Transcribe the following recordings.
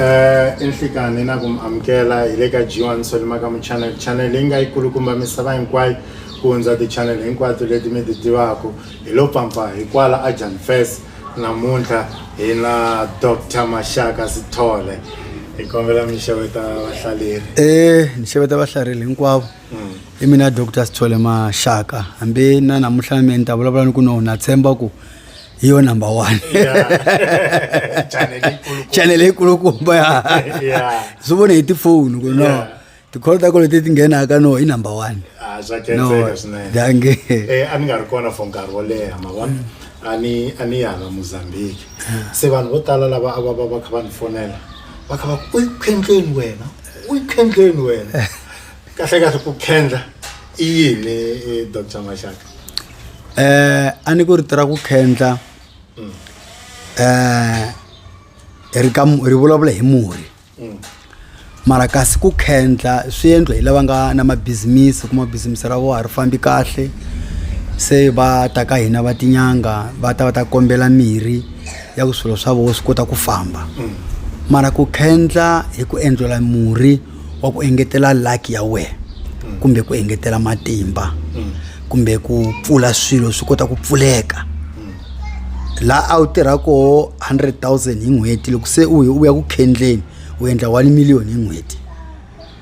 eh enhlikani na ku mi amukela hi le ka G1 Solimaka mu channel channel leyi nga yi kulukumba misava hinkwayo ku hundza ti-channel hinkwato leti mi ti tivaka hi lo pfampa hi kwala a Jan Fest namuntlha hi na Dr Mashaka Sithole hi kombela mi xeweta vahlaleri eh ni xeweta vahlaleri hinkwavo i mina dr sithole maxaka hambi na namuntlha na mina ni ta vulavula ni ku no na tshemba ku hi yo number one channel yikulukumba ya swi vone hi tifoni ku no tikholo ta kolo leti ti nghenaka no i number one ah, dange eh, a ni nga ri kona for nkarhi wo leha ma vona a ni a ni yala mozambique se vanhu vo tala lava a va va va kha va ni fonela va kha va ku u yi khendleni wena u yi khendleni wena kahle kahle ku khendla i yini eh, dr maxaka eh a ni ku ri tirha ku khendla mm. eh ri ka ri vulavula hi murhi mm. mara kasi ku khendla swi endla hi lava nga na mabizimisi kuma bizimisi ra vona ri fambi kahle se va ta ka hina va tinyanga va ta va ta kombela mirhi ya ku swilo swa vona swi kota ku famba mm. mara ku khendla hi ku endlela murhi wa ku engetela luck ya wena kumbe ku engetela matimba kumbe ku pfula swilo swi kota ku pfuleka la a wu tirha koho 100 000 hi n'hweti loko se u u ya ku khendleni u endla 1 million hi n'hweti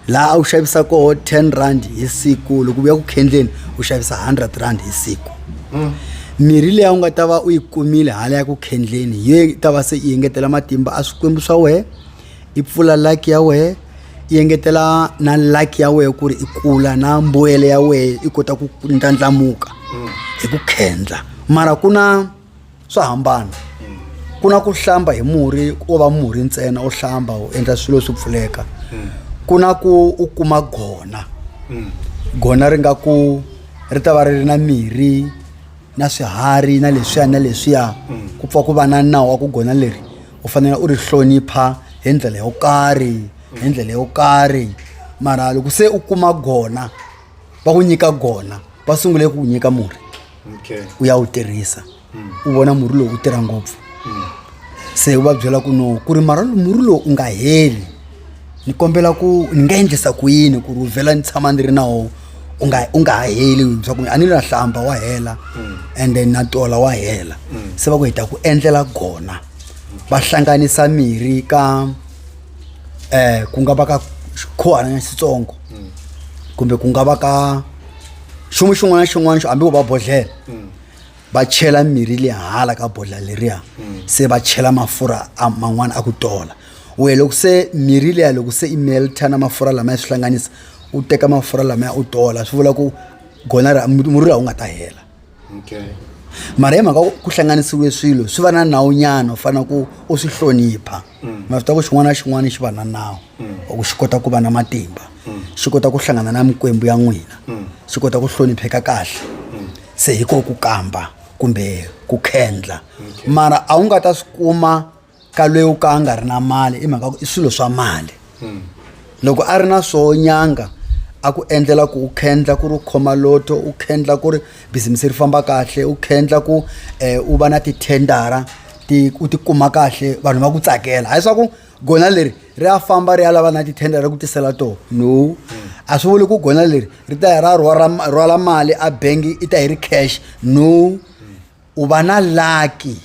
laha a wu xavisa koho 10 rand hi siku loko u ya ku khendleni u xavisa 100 rand hi siku mirhi leyi a wu nga ta va u yi kumile hala ya ku khendleni hi yo yi ta va se yi engetela matimba a swikwembu swa wena i pfula like ya wehe i engetela na like ya wehe ku ri i kula na mbuyelo ya wehe i kota ku ndlandlamuka mm. hi ku khendla mara ku na swo hambana mm. ku na ku hlamba hi murhi wo va murhi ntsena u hlamba u endla swilo swi pfuleka mm. ku na ku u kuma gona gona ri nga ku ri ta va ri ri na mirhi na swiharhi na leswiya na leswiya ku pfa ku va na nawu wa ku gona leri u fanele u ri hlonipha hi ndlela yo karhi hi ndlela yo karhi mara loko se u kuma gona va ku nyika gona va sungule ku nyika murhi okay. u ya wu tirhisa mm. u vona murhi lowu u tirha ngopfu mm. se u va byela ku no ku ri mara murhi lowu u nga heli ni kombela ku ni nga endlisa ku yini ku ri u vhela ni tshama ni ri na wo u nga u nga ha heli bya ku a ni na hlamba wa hela and then na tola wa hela se va ku hi ta ku endlela kona va hlanganisa mirhi ka um ku nga va ka xikhuwana xitsongo kumbe ku nga va ka xin'wana xin'wana na xin'wana xo hambi wo va bodlhela va chela mirhi le hala ka bodla leriya se va chela mafurha a man'wana a ku tola we loko se mirhi leya loko se i melta na mafurha lamaya swi hlanganisa u teka mafurha lamaya u tola swi vula ku gona ra murhi laha wu nga ta hela okay mara hi mhaka ku hlanganisiwe swilo swi va na nawu nyana u fanele ku u swi hlonipha mm. ma swi ta ku xin'wana na xin'wana xi va na nawu mm. or ku xi kota ku va na matimba mm. xi kota ku hlangana na mikwembu ya n'wina xi kota ku hlonipheka kahle se hi ko ku kamba kumbe ku khendla mara a wu nga ta swi kuma ka loyi u ka a nga ri na mali i mhaka ku i swilo swa mali loko a ri na swo nyanga a ku endlela ku u khendla ku ri u khoma loto u khendla ku ri bizimisi ri famba kahle u khendla ku um u va na tithendara ti u ti kuma kahle vanhu va ku tsakela hayi swa ku gona leri ri ya famba ri ya lava na tithenda ra ku tisela toho no a swi vuli ku gona leri ri ta ya ra rhwala- rhwala mali a bengi i ta yi ri cash no u va na laki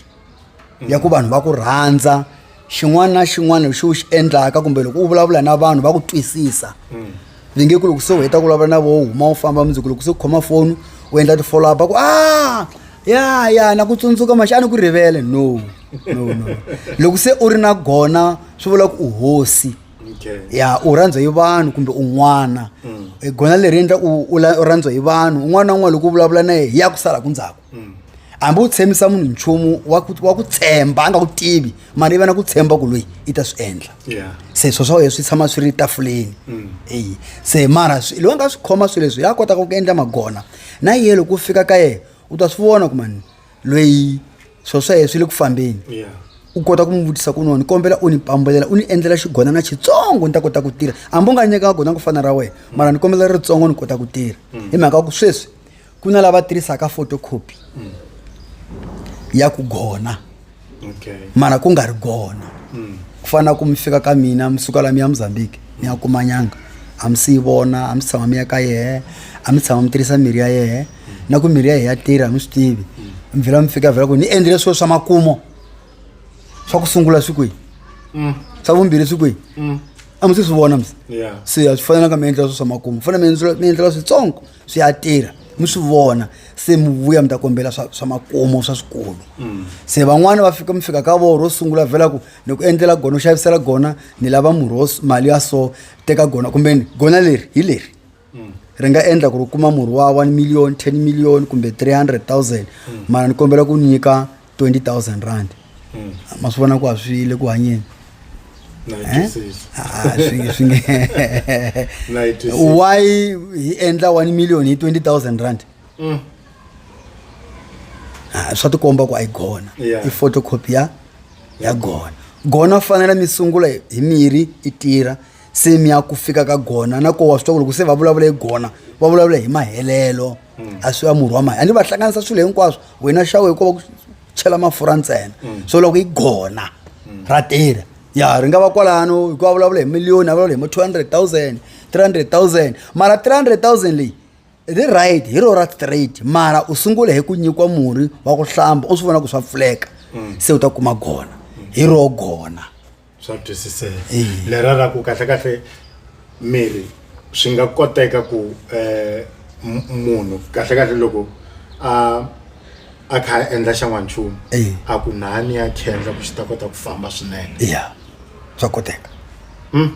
ya ku vanhu va ku rhandza xin'wana na xin'wana lexi u xi endlaka kumbe loko u vulavula na vanhu va ku twisisa ni nge ku loko se u heta ku vulavula na vo huma u famba mundzi ku loko se u khoma foni u endla ti-follow up a ku a ah, ya ya na ku tsundzuka maxi a ni ku rivele no no no loko se u ri na gona swi vula ku u hosi ya u rhandzwa hi vanhu kumbe un'wana mm. gona leri endla u rhandzwa hi vanhu un'wana na un'wana loko u vulavula na ye hi ya ku sala ku ndzhaku hambi u tshembisa munhu nchumu wa ku wa ku tshemba a nga ku tivi mara i va na ku tshemba ku loyi i ta swi endla Yeah. se swo swa wena swi tshama swi ri tafuleni eyi se mara swi- loyi a nga swi khoma swilo leswi ya kotaka ku endla magona na yena loko u fika ka yena u ta swi vona ku mani loyi swo swa yena swi le ku fambeni Yeah. u kota ku n'wi vutisa ku nona ni kombela u ni pambulela u ni endlela xigonana xitsongo ni ta kota ku tirha hambi u nga nyika gona ku fana ra wena mara ni kombela ritsongo ni kota ku tirha hi mhaka ku sweswi ku na lava tirhisaka photocopy ya ku gona okay mara ku nga ri gona mm. ku fana ku mi fika ka mina mi suka la mi ya mozambique ni ya kuma nyanga a mi si yi vona a mi si tshama mi ya ka yehe a mi tshama mi tirhisa mirhi ya yehe na ku mirhi ya yehe ya tirha mi swi tivi mi vhela mi fika vhela ku ni endlile swilo swa makumo swa ku sungula swi kwihi mm. swa vumbirhi swi kwihi mm. a mi si swi vona mi se a swi fanelanga mi endlela swilo swa makumo fanele mi endlela switsongo swi ya tirha mi swi vona se mi vuya mi ta kombela swa swa makumu swa swikulu se van'wani va fika mi fika ka vona ro sungula vhela ku ni ku endlela gona u xavisela gona ni lava murhi wo s- mali ya so teka gona kumbe ni gona leri hi leri ri nga endla ku ri u kuma murhi wa one million ten million kumbe three hundred thousand mara ni kombela ku nyika 20000 rand hmm. ma swi vona ku a swi le ku hanyeni eh? ah, why hi endla 1 million hi 20000 rand hmm. ah, swa tikomba ku a yi gona i photocopy ya ya gona gona fanele mi sungula hi mirhi i tirha se mi ya ku fika ka gona na kowa swi twa ku loko se va vulavula hi gona va vulavula hi mahelelo mm. a swi va murhi wa mali ande va hlanganisa swilo hinkwaswo wena xawu hi kova ku chela mafurha ntsena mm. so loko yi gona mm. ra tirha ya ri nga va kwalano hikuva vulavula hi miliyoni a vulavula hi ma two hundred thousand three hundred thousand mara three hundred thousand leyi ri right hi ro ra straight mara u sungule hi ku nyikiwa murhi wa ku hlamba u swi vona ku swa pfuleka se u ta kuma gona hi ro gona swa twisiseka Eya. lera ra ku kahle kahle miri swi nga koteka ku eh, m- munhu kahle kahle loko a a kha a endla xa n'wanchumu Eya. a ku nani ya khendla ku xi ta kota ku famba swinene ya swa koteka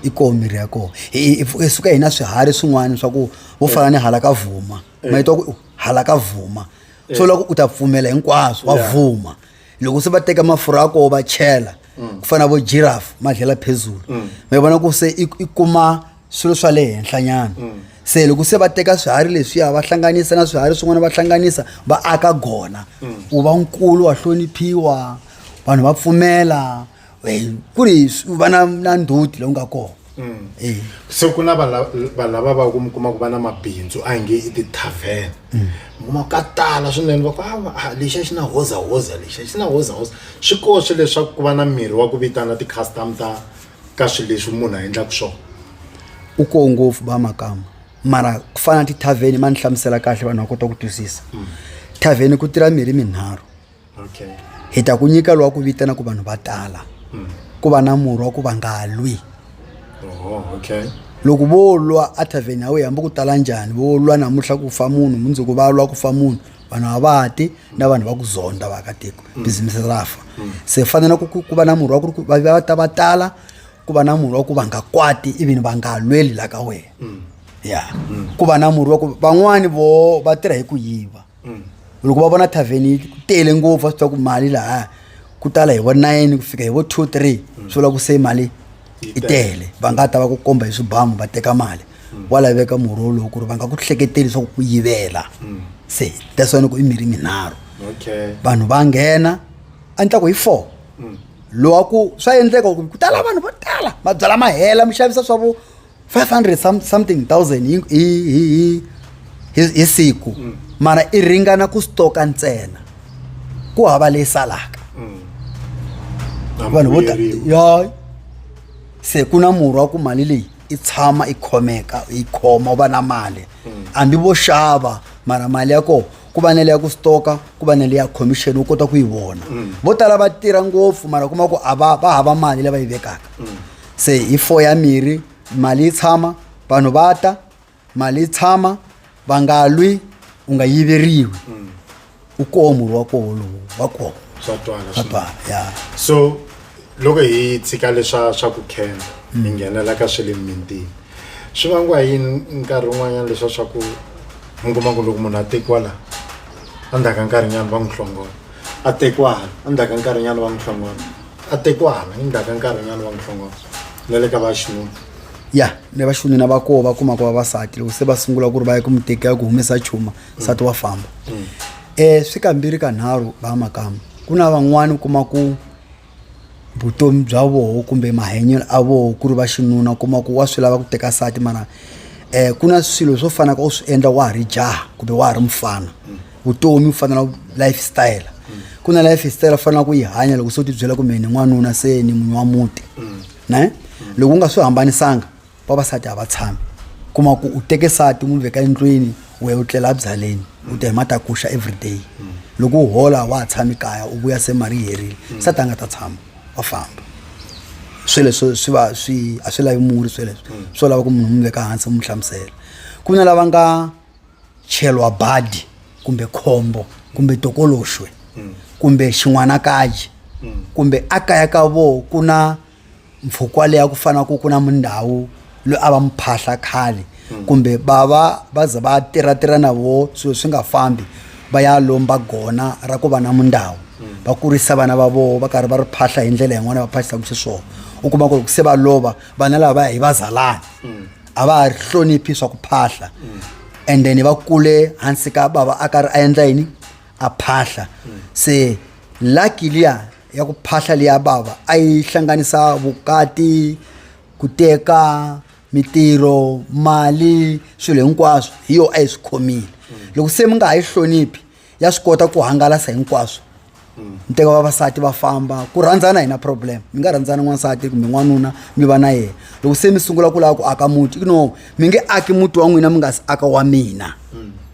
i koho mirhi ya koho Hi- hi- hi- hi suka hina swiharhi swin'wana swa ku vo fana ni hala ka vhuma ma yi twa ku hala ka vhuma so loko u ta pfumela hinkwaswo wa Yeah. vhuma loko se va teka mafurha ya koho va chela ku fana vo giraffe ma dlela phezulu mi vona ku se i i kuma swilo swa le henhlanyana se loko se va teka swiharhi leswiya va hlanganisa na swiharhi swin'wana va hlanganisa va aka gona wu va nkulu wa hloniphiwa vanhu va pfumela Eh, ku ri s- u va na na ndzhuti lowu nga kona Mm. Eh, se ku na vanhu lava va ku mi kuma ku va na mabindzu a hi nge i ti-tavern mi kuma ka tala swinene va ku "Ah, va- ah, lexiya xi na hozahoza lexiya xi na hozahoza swi koxe leswaku ku va na mirhi wa ku vitana ti-custom ta ka swilo leswi munhu a endlaka swona u koho ngopfu ba makama mara ku fana na ti-tavern ma ni hlamusela kahle vanhu va kota ku twisisa tavern ku tirha mirhi minharhu okay. hi ta ku nyika lowa ku vitana ku vanhu va tala mm. ku va na murhi wa ku va nga lwi oh, okay. loko vo lwa etavheni ya wena hambi ku tala njhani vo lwa namuntlha ku fa munhu mundzuku va lwa ku fa munhu vanhu a va ti na vanhu va ku zonda vaakatiko mm. bizimisi ra fa mm. se fanele ku ku va na murhi wa ku ri ku va va ta va tala ku va na murhi wa ku va nga kwati ivini va nga lweli la ka wena ya ku va na murhi wa ku van'wani vo va tirha hi ku yiva loko va vona tavhen yi tele ngopfu va swi tiva ku mali lahaya ku tala hi vo nine ku fika hi vo two three swi vula ku se mali yi tele va nga ta va ku komba hi swibamu va teka mali wa laveka murhi wolowo ku ri va nga ku hleketeli leswaku ku yivela se that's why ni ku i mirhi minharhu okay vanhu va nghena a ni ta ku hi four lowa ku swa endleka ku ku tala vanhu vo tala mabyala ma hela mi xavisa swa vo 500 some- something thousand hi, hi, hi, hi, hi, hi siku mara i ringana ku stoka ntsena ku hava leyi salaka vanhu vo ta ya se ku na murhi wa ku mali leyi i tshama i khomeka i khoma u va na mali hambi vo xava mara mali ya koho ku va na leya ku stoka ku va na leya commission u kota ku yi vona vo tala va tirha ngopfu mara kuma ku a va va hava mali leyi va yi vekaka se hi four ya mirhi mali yi tshama vanhu va ta mali yi tshama va nga lwi u nga yiveriwi u koho murhi wa koho lowu wa koho swa twala swa swinene. twala ya so loko hi tshika leswa swa ku khenda hi nghenela ka swa le mintini swi vangiwa yini nkarhi wun'wanyana leswa swa ku mi kuma ku loko munhu a tekiwa laha endzhaku ka nkarhinyana va n'wi hlongola a tekwana endzhaku ka nkarhinyana va n'wi hlongola a tekwana endzhaku ka nkarhinyana va n'wi hlongola na le ka vaxinuna ya ni vaxinuna va koho va kumaka vavasati loko se va sungula ku ri va ya ku mi teka ya ku humesa chuma nsati wa famba um swi kambirhi ka nharhu va makamba ku na van'wani u kuma ku vutomi bya voho kumbe mahanyelo a voho ku ri va xinuna u kuma ku wa swi lava ku teka nsati mara um ku na swilo swo fana ka u swi endla wa ha ri jaha kumbe wa ha ri mufana vutomi ku fanela life style ku na life style u fanela ku yi hanya loko se u tibyela kumbe ni n'wanuna se ni munhu wa muti ne loko u nga swi hambanisanga vavasati a va tshami kuma ku u teke sati n'wi veka endlwini u ya u tlela abyaleni u ta hi matakuxa everyday mm. loko u hola wa ha tshami kaya u vuya se mali yi herile mm. sati a nga ta tshama wa famba sweleswo swi va swi a swi lavi muri sweleswo mm. swo lava ku munhu n'wi veka hansi n'wi hlamusela ku na lava nga cheliwa badi kumbe khombo kumbe tokoloxwe kumbe xin'wanakaji kumbe a kaya ka vona ku na mpfhuka wa leya ku fana ku ku na mundhawu loyi a va muphahla khale kumbe va va va ze va tirhatirha na vo swilo swi nga fambi va ya lomba gona ra ku va na mundhawu va kurisa vana va voho va karhi va ri phahla hi ndlela yin'wana va phahlisaka xiswona u kuma ku loko se va lova vana lava va ya hi vazalana a va ha ri hloniphi swa ku phahla and then va kule hansi ka bava a karhi a endla yini a phahla se lucky liya ya ku phahla leya bava a yi hlanganisa vukati ku teka mitirho mali swilo hinkwaswo hi yo a yi swi khomile loko se mi nga ha yi hloniphi ya swi kota ku hangalasa hinkwaswo mi teka vavasati va famba ku rhandzana hi na problem mi nga rhandzana n'wansati kumbe n'wanuna mi va na yena loko se mi sungula ku lava ku aka muti you know mi nge aki muti wa n'wina mi nga si aka wa mina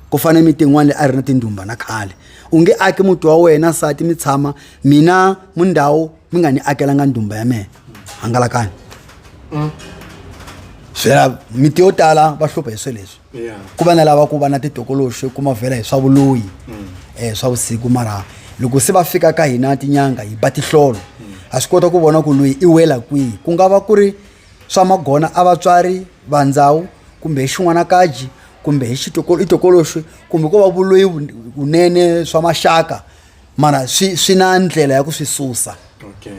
ku fanele mi tin'wana leyi a ri na tindhumba na khale u nge aki muti wa wena nsati mi tshama mina mundhawu mi nga ni akelanga ndhumba ya mina hangalakani mm. byela miti yo tala va hlupha hi swilo leswi ku va na lava ku va na titokoloxi kuma vhela hi swa vuloyi um swa vusiku mara loko se va fika ka hina tinyanga hi ba tihlolo mm. ha swi kota ku vona ku loyi i wela kwihi ku nga va ku ri swa magona a vatswari va ndhawu kumbe hi xin'wanakaji kumbe hi i tokoloxi kumbe ko va vuloyi vunene swa maxaka mara swi swi na ndlela ya ku swi susa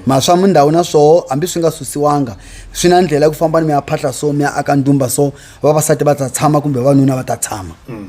mara swa mindhawu na swoho hambi swi nga susiwanga swi na ndlela ya ku fambani mi ya phahla so mi ya aka ndumba so vavasati va ta tshama kumbe vavanuna va ta tshama mm.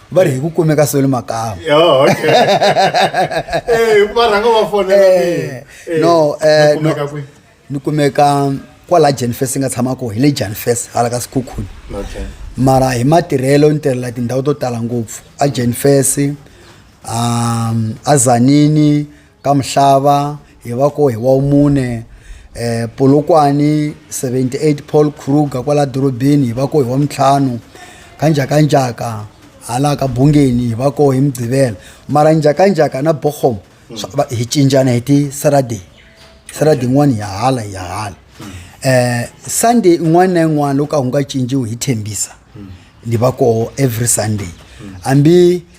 va ri hi ku kumeka soli makama oh, eh, eh, no eh, ni kumeka kwala janfes nga tshamako hi le janfes hala ka sikhukhuni mara hi matirhelo ni tirhela tindhawu to tala ngopfu a janfes um a zanini ka Mhlava hi va ko hi wa mune eh Polokwane 78 Paul Kruger kwala dorobeni hi va ko hi wa mitlhanu ka njhakanjhaka hala ka bungeni hi va ko hi mugqivela mara njhakanjhaka na bochom hi cinjana hi ti saturday saturday yin'wana hi ya hala hi ya hala eh sunday yin'wana na yin'wana loko a wu nga cinciwi hi thembisa ni va koho every sunday hambi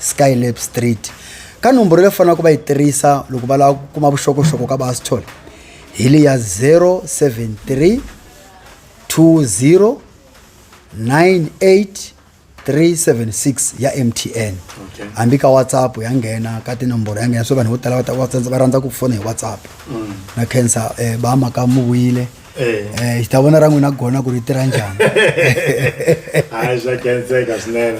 Skylab Street ka nomboro leyi faneleke va yi tirhisa loko va lava ku kuma vuxokoxoko ka Bastol hi le ya 073 20 98376 ya MTN Okay. hambi ka WhatsApp ya nghena ka tinomboro ya nghena so vanhu vo tala va ta- va tsandza- va rhandza ku fona hi WhatsApp na cancer eh, ba maka muwile eh hi ta vona ra n'wina gona ku ri tirha njhani hayi swa kenseka swinene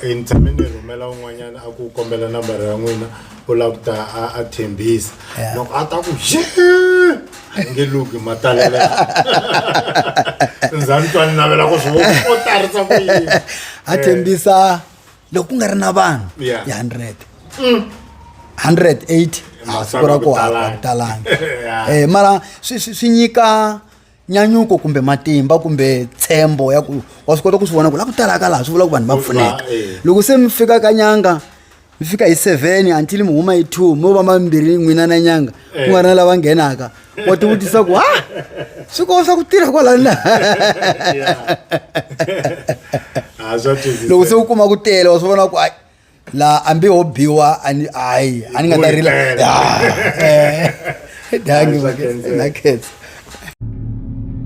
um ni tshame ni rhumela un'wanyana a ku kombela nambara ya n'wina u lava ku ta a thembisa loko a ta ku ye a nge luki matalela ndzani twa ni navela ku swi u tarisa ku yini a thembisa loko ku nga ri na vanhu Yeah. ya 100 180 a Masangu siku ra ku ku hava talanga. ku talanga Yeah. Eh, mara swi swi- swi nyika nyanyuko kumbe matimba kumbe tshembo ya ku wa swi kota ku swi vona ku la ku talaka laha swi vula ku vanhu va Ku pfuneka va, eh. loko se mi fika ka nyanga mi fika hi seven until mi huma hi two mo va mambirhi n'wina na nyanga ku nga ri na lava nghenaka wa ti vutisa ku ha swi kova swa ku tirha kwalana loko se u kuma ku tele wa swi vona ku ai la ambi ho biwa ani ai a ni nga ta rila dangi na khetsa